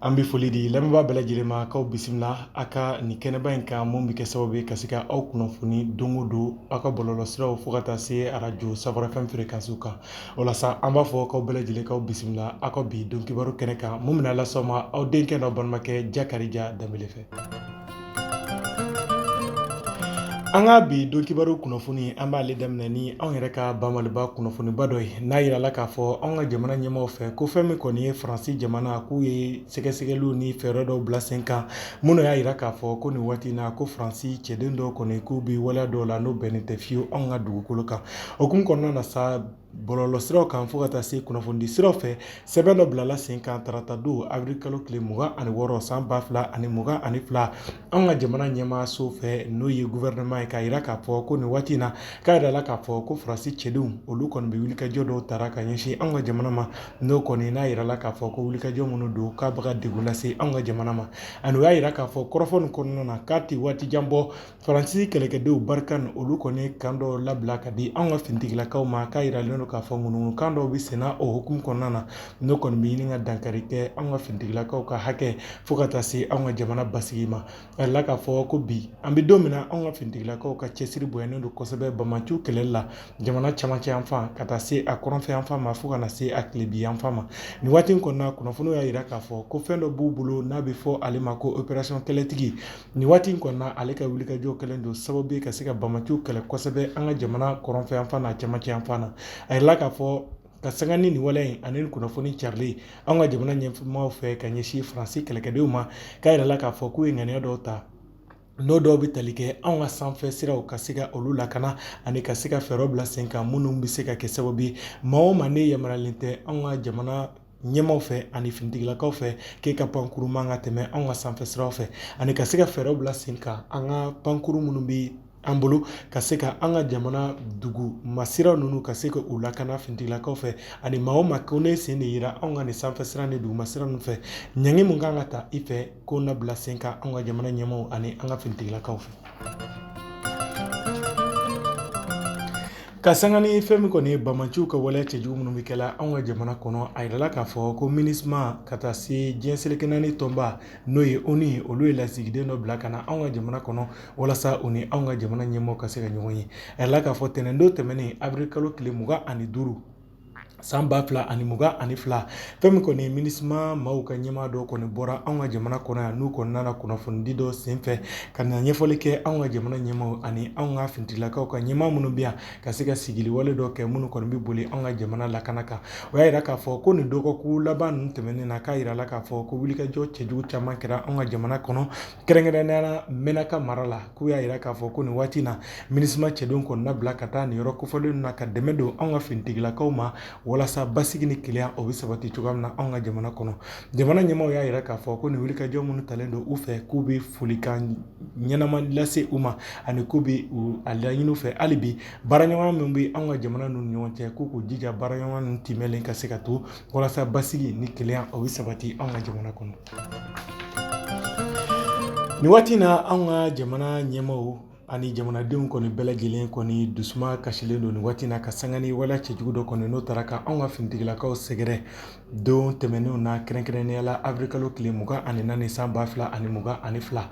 An bɛ foli di lamɛnbaa bɛɛ lajɛlen ma k'aw bisimila a ka nin kɛnɛba in kan min bɛ kɛ sababu ye ka se ka aw kunnafoni don o don aw ka bɔlɔlɔsiraw fo ka taa se arajo Savoir FM fréquence kan o la sa an b'a fɔ k'aw bɛɛ lajɛlen k'aw bisimila aw ka bi don kibaru kɛnɛ kan min bɛna las'aw ma aw denkɛ n'aw balimakɛ Jakarija Danbele fɛ An ka bi don kibaru kunnafoni an b'ale daminɛ ni anw yɛrɛ ka ba Maliba kunnafoniba dɔ ye n'a jirala k'a fɔ an ka jamana ɲɛmaaw fɛ ko fɛn min kɔni ye faransi jamana k'u ye sɛgɛsɛgɛliw ni fɛɛrɛ dɔw bila sen kan minnu y'a jira k'a fɔ ko nin waati in na ko faransi cɛden dɔw kɔni k'u bɛ waleya dɔw la n'o bɛnnen tɛ fiyewu anw ka dugukolo kan o hukumu kɔnɔna na sa bɔlɔlɔ siraw kan fo ka taa se kunnafonidi siraw fɛ sɛbɛn dɔ bilala sen kan tarata don awirili kalo tile mugan ani wɔɔrɔ san ba fila ani mugan ani fila an ka jamana ɲɛmaa so fɛ n'o ye guvɛrɛnɛma ye k'a jira k'a fɔ ko nin waati in na k'a jirala k'a fɔ ko faransi cɛdenw olu kɔni bɛ wulikajɔ dɔw tara ka ɲɛsin an ka jamana ma n'o kɔni n'a jirala k'a fɔ ko wulikajɔ minnu don k'a bɛ ka degun lase an ka jamana ma ani o y'a jira k'a fɔ kɔrɔfɔ nin kɔnɔna na k'a tɛ waati jan bɔ faransi kɛlɛkɛdenw Barkhane olu kɔni ye kan dɔ labila ka di an ka finitigilakaw ma k'a yiralen don k'a fɔ ŋunuŋunukan dɔw bɛ senna o hukumu kɔnɔna na n'o kɔni bɛ ɲini ka dankari kɛ an ka finitigilakaw ka hakɛ fo ka taa se an ka jamana basigi ma a yirala k'a fɔ ko bi an bɛ don min na an ka finitigilakaw ka cɛsiri bonyalen don kosɛbɛ bamaciw kɛlɛli la jamana camancɛ yan fan ka taa se a kɔrɔnfɛ yan fan ma fo ka na se a tilebi yan fan ma nin waati in kɔnɔna kunnafoniw y'a jira k'a fɔ ko fɛn dɔ b'u bolo n'a bɛ fɔ ale ma ko operasɔn kɛlɛtigi Nin waati in kɔnɔna ale ka wulikajɔ kɛlen don sababu ye ka se ka bamaciw kɛlɛ kosɛbɛ an ka jamana kɔrɔnfɛ yan fan n'a camancɛ yan fan na a yirala k'a fɔ ka sanga ni nin waleya in ani kunnafoni carilen an ka jamana ɲɛmaaw fɛ ka ɲɛsin faransi kɛlɛkɛdenw ma k'a yirala k'a fɔ k'u ye ŋaniya dɔw ta n'o dɔw bɛ tali kɛ anw ka sanfɛ siraw ka se ka olu lakana ani ka se ka fɛɛrɛw bila sen kan minnu bɛ se ka kɛ sababu ye maa o maa n'e yamaruyalen tɛ anw ka jamana ɲɛmaaw fɛ ani finitigilakaw fɛ k'e ka pankuru man ka tɛmɛ anw ka sanfɛ siraw fɛ ani ka se ka fɛɛrɛw bila sen kan an ka pankuru minnu bɛ an bolo ka se ka an ka jamana duguma sira ninnu ka se ka u lakana finitigilakaw fɛ ani maa o maa ko ne sen de yira anw ka nin sanfɛ sira ni duguma sira ninnu fɛ ɲangi min kan ka ta i fɛ k'o na bila sen kan anw ka jamana ɲɛmaaw ani an ka finitigilakaw fɛ Ka sanga ni fɛn min kɔni ye bamaciw ka waleya cɛjugu minnu bɛ kɛ la anw ka jamana kɔnɔ a yirala k'a fɔ ko MINUSMA ka taa se diɲɛ seleke naani tɔnba n'o ye ONU olu ye lasigiden dɔ bila ka na anw ka jamana kɔnɔ walasa u ni anw ka jamana ɲɛmaaw ka se ka ɲɔgɔn ye a yirala k'a fɔ tɛnɛndon tɛmɛnen awirili kalo tile mugan ani duuru san ba fila ani mugan ani fila fɛn min kɔni minisima maaw ka ɲɛmaa dɔ kɔni bɔra anw ka jamana kɔnɔ yan n'u kɔni nana kunnafonidi dɔ senfɛ ka na ɲɛfɔli kɛ anw ka jamana ɲɛmaaw ani anw ka finitigilakaw ka ɲɛmaa minnu bɛ yan ka se ka sigiliwale dɔ kɛ minnu kɔni bɛ boli anw ka jamana lakana kan o y'a yira k'a fɔ ko nin dɔgɔkun laban ninnu tɛmɛnen na k'a yirala k'a fɔ ko wulikajɔ cɛjugu caman kɛra anw ka jamana kɔnɔ kɛrɛnkɛrɛnnenya mɛnaka mara la k'u y'a yira k'a fɔ ko nin waati na minisima cɛdenw kɔni labila ka taa nin yɔrɔ kofɔlen na ka dɛmɛ don anw ka finitigilakaw ma walasa basigi ni kelenya o bɛ sabati cogoya min na anw ka jamana kɔnɔ jamana ɲɛmaaw y'a yira k'a fɔ ko nin wulikajɔ minnu talen don u fɛ k'u bɛ folikan ɲɛnama lase u ma ani k'u bɛ a laɲini u fɛ hali bi baaraɲɔgɔnya min bɛ anw ka jamana ninnu ni ɲɔgɔn cɛ k'u k'u jija baaraɲɔgɔnya ninnu timɛlen ka se ka to walasa basigi ni kelenya o bɛ sabati anw ka jamana kɔnɔ Nin waati na an ka jamana ɲɛmaaw ani jamanadenw kɔni bɛɛ lajɛlen kɔni dusuma kasilen don nin waati na ka sanga ni waleya cɛjugu dɔ kɔni n'o taara ka anw ka finitigilakaw sɛgɛrɛ don tɛmɛnenw na kɛrɛnkɛrɛnnenya la awirilikalo tile mugan ani naani san ba fila ani mugan ani fila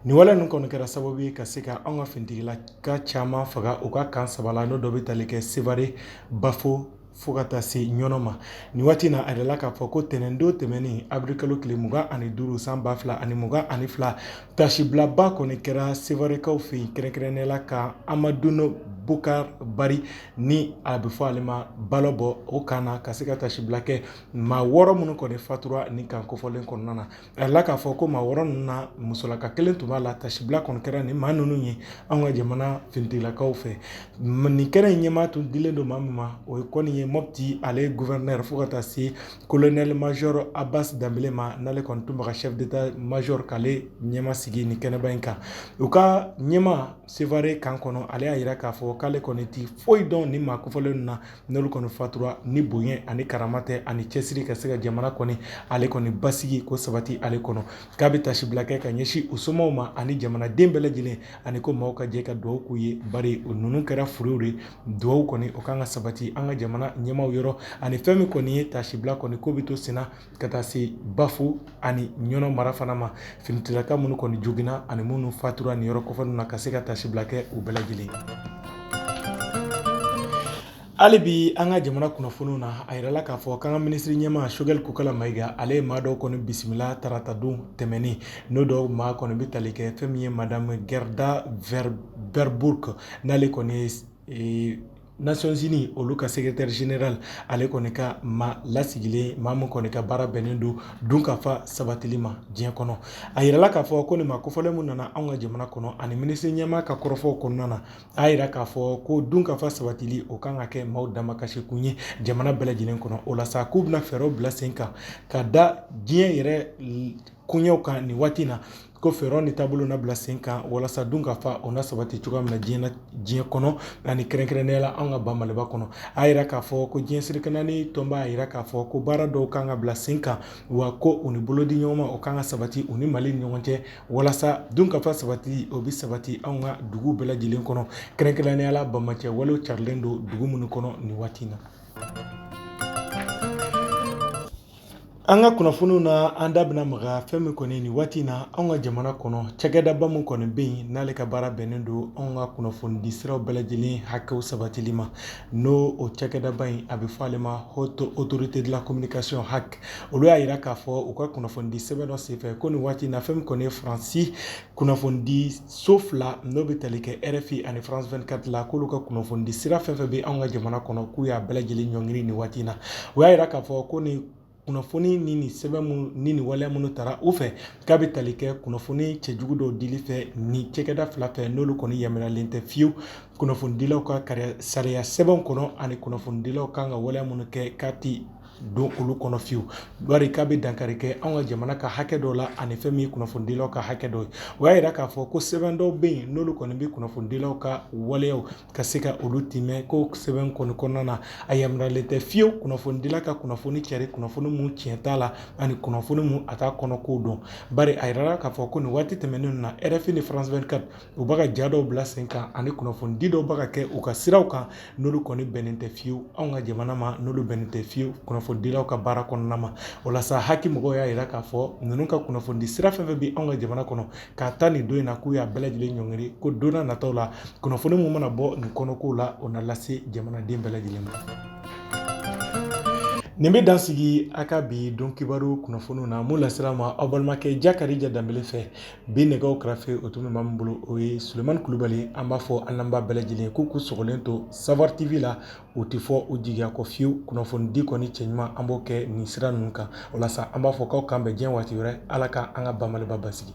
nin waleya ninnu kɔni kɛra sababu ye ka se ka anw ka finitigilaka caman faga u ka kan saba la n'o dɔ bɛ tali kɛ sevare bafo fo ka taa se ɲɔnɔ ma nin waati na a yirala k'a fɔ ko tɛnɛndon tɛmɛnen awirilikalo tile mugan ani duuru san ba fila ani mugan ani fila tasibilaba kɔni kɛra sewarekaw fɛ yen kɛrɛnkɛrɛnnenya la kan amadun bokar bari ni a bɛ fɔ ale ma balobo o kan na ka se ka tasibila kɛ maa wɔɔrɔ minnu kɔni fatura nin kan kofɔlen kɔnɔna na A yirala k'a fɔ ko maa wɔɔrɔ ninnu na musolaka kelen tun b'a la tasibila kɔni kɛra nin maa ninnu ye an ka jamana finitigilakaw fɛ nin kɛnɛ in ɲɛmaa tun dilen don maa min ma o ye kɔni ye mɔti ale gɔfɛrɛnɛri fo ka taa se kolonɛli mazɔri abasi danbele ma n'ale kɔni tun bɛ ka sɛfu deta mazɔri k'ale ɲɛmaa sigi nin kɛnɛba in kan u ka ɲɛmaa sevare kan kɔnɔ ale y'a yira k'a fɔ k'ale kɔni tɛ foyi dɔn nin maa kofɔlen na N'olu kɔni fatura ni bonya ani karama tɛ ani cɛsiri ka se ka jamana kɔni ale kɔni basigi k'o sabati ale kɔnɔ k'a bɛ tasibila kɛ ka ɲɛsin u somaw ma ani jamanaden bɛɛ lajɛlen ani ko maaw ka jɛ ka dugawu k'u ye bari o ninnu kɛra furɛw de dugawu kɔni o kan ka sabati an ka jamana ɲɛmaaw yɔrɔ ani fɛn min kɔni ye tasibila kɔni k'o bɛ to senna ka taa se bafo ani ɲɔnɔ mara fana ma finitilaka minnu kɔni joginna ani minnu fatura nin yɔrɔ kofɔlen na ka se ka tasibila kɛ u bɛɛ lajɛlen hali bi an ka jamana kunnafoniw na a yirala k'a fɔ k'an ka minisiri ɲɛmaa sogɛli kokala mayiga ale ye maa dɔw kɔni bisimila taratadon tɛmɛnen n'o dɔw maa kɔni bɛ tali kɛ fɛn min ye madamu gɛrɛda vɛrɛburugu n'ale kɔni ye Nations-Unies olu ka secrétaire général ale kɔni ka maa lasigilen maa min kɔni ka baara bɛnnen don dunkafa sabatili ma diɲɛ kɔnɔ a yirala k'a fɔ ko nin maa kofɔlen min nana anw ka jamana kɔnɔ ani minisiri ɲɛmaa ka kɔrɔfɔw kɔnɔna na a y'a yira k'a fɔ ko dunkafa sabatili o kan ka kɛ maaw damakasikun ye jamana bɛɛ lajɛlen kɔnɔ o la sa k'u bɛna fɛɛrɛw bila sen kan ka da diɲɛ yɛrɛ koɲɛw kan nin waati na ko fɛɛrɛw ni taabolo na bila sen kan walasa dunkafa o na sabati cogoya min na diɲɛ na diɲɛ kɔnɔ ani kɛrɛnkɛrɛnnenya la an ka ba maliba kɔnɔ a yira k'a fɔ ko diɲɛ seleke naani tɔnba a yira k'a fɔ ko baara dɔw kan ka bila sen kan wa ko u ni bolodiɲɔgɔnma o kan ka sabati u ni mali ni ɲɔgɔn cɛ walasa dunkafa sabati o bɛ sabati anw ka dugu bɛɛ lajɛlen kɔnɔ kɛrɛnkɛrɛnnenya la banbaanci walew carilen don dugu minnu kɔnɔ nin waati na An ka kunnafoniw na an da bɛna maga fɛn min kɔni nin waati in na anw ka jamana kɔnɔ cakɛdaba min kɔni bɛ yen n'ale ka baara bɛnnen don anw ka kunnafonidi siraw bɛɛ lajɛlen hakɛw sabatili ma n'o o cakɛdaba in a bɛ fɔ ale ma Haute Autorité de la Communication HAC olu y'a jira k'a fɔ u ka kunnafonidi sɛbɛn dɔ senfɛ ko nin waati in na fɛn min kɔni ye faransi kunnafonidi so fila n'o bɛ tali kɛ rfi ani france24 la k'olu ka kunnafonidi sira fɛn fɛn bɛ anw ka jamana kɔnɔ k'u y'a bɛɛ lajɛlen ɲɔngiri nin waati na o y'a jira k'a fɔ ko nin kunnafoni ni nin sɛbɛn minnu ni nin waleya minnu tara u fɛ k'a bɛ tali kɛ kunnafoni cɛjugu dɔw dili fɛ nin cakɛda fila fɛ n'olu kɔni yamaruyalen tɛ fiyewu kunnafonidilaw ka sariya sɛbɛnw kɔnɔ ani kunnafonidilaw kan ka waleya minnu kɛ k'a ti don olu kɔnɔ fiyewu bari k'a bɛ dankari kɛ an ka jamana ka hakɛ dɔw la ani fɛn min ye kunnafonidilaw ka hakɛ dɔw ye o y'a jira k'a fɔ ko sɛbɛn dɔw bɛ yen n'olu kɔni bɛ kunnafonidilaw ka waleyaw ka se ka olu timɛ ko sɛbɛn kɔni kɔnɔna na a yamaruyalen tɛ fiyewu kunnafonidila ka kunnafoni cari kunnafoni min tiɲɛ t'a la ani kunnafoni min a t'a kɔnɔko dɔn bari a jirala k'a fɔ ko nin waati tɛmɛnenw na RFI ni France 24 u bɛ ka ja dɔw bila sen kan ani kunnafonidi dɔw bɛ ka kɛ u ka siraw kan n'olu kɔni bɛnnen tɛ fiyewu anw ka jamana ma n'olu bɛnnen tɛ fiyewu kunnafonidilaw ka baara kɔnɔna ma o la sa HAC mɔgɔw y'a jira k'a fɔ ninnu ka kunnafonidi sira fɛn fɛn bɛ anw ka jamana kɔnɔ k'a ta nin don in na k'u y'a bɛɛ lajɛlen ɲɔngiri ko donna nataw la kunnafoni mun mana bɔ nin kɔnɔkow la o na lase jamanaden bɛɛ lajɛlen ma nin bɛ dan sigi an ka bi don kibaru kunnafoniw na mun lasera aw ma aw balimakɛ jakarija danbele fɛ Bi nɛgɛw karafe o tun bɛ maa min bolo o ye sulemani kulubali an b'a fɔ an lamɛnbaa bɛɛ lajɛlen k'u k'u sɔgɔlen to Savoir TV la u tɛ fɔ u jigiya kɔ fiyewu kunnafonidi kɔni cɛ ɲuman an b'o kɛ nin sira ninnu kan o la sa an b'a fɔ k'aw k'an bɛ jɛn waati wɛrɛ ala k' an ka ba maliba basigi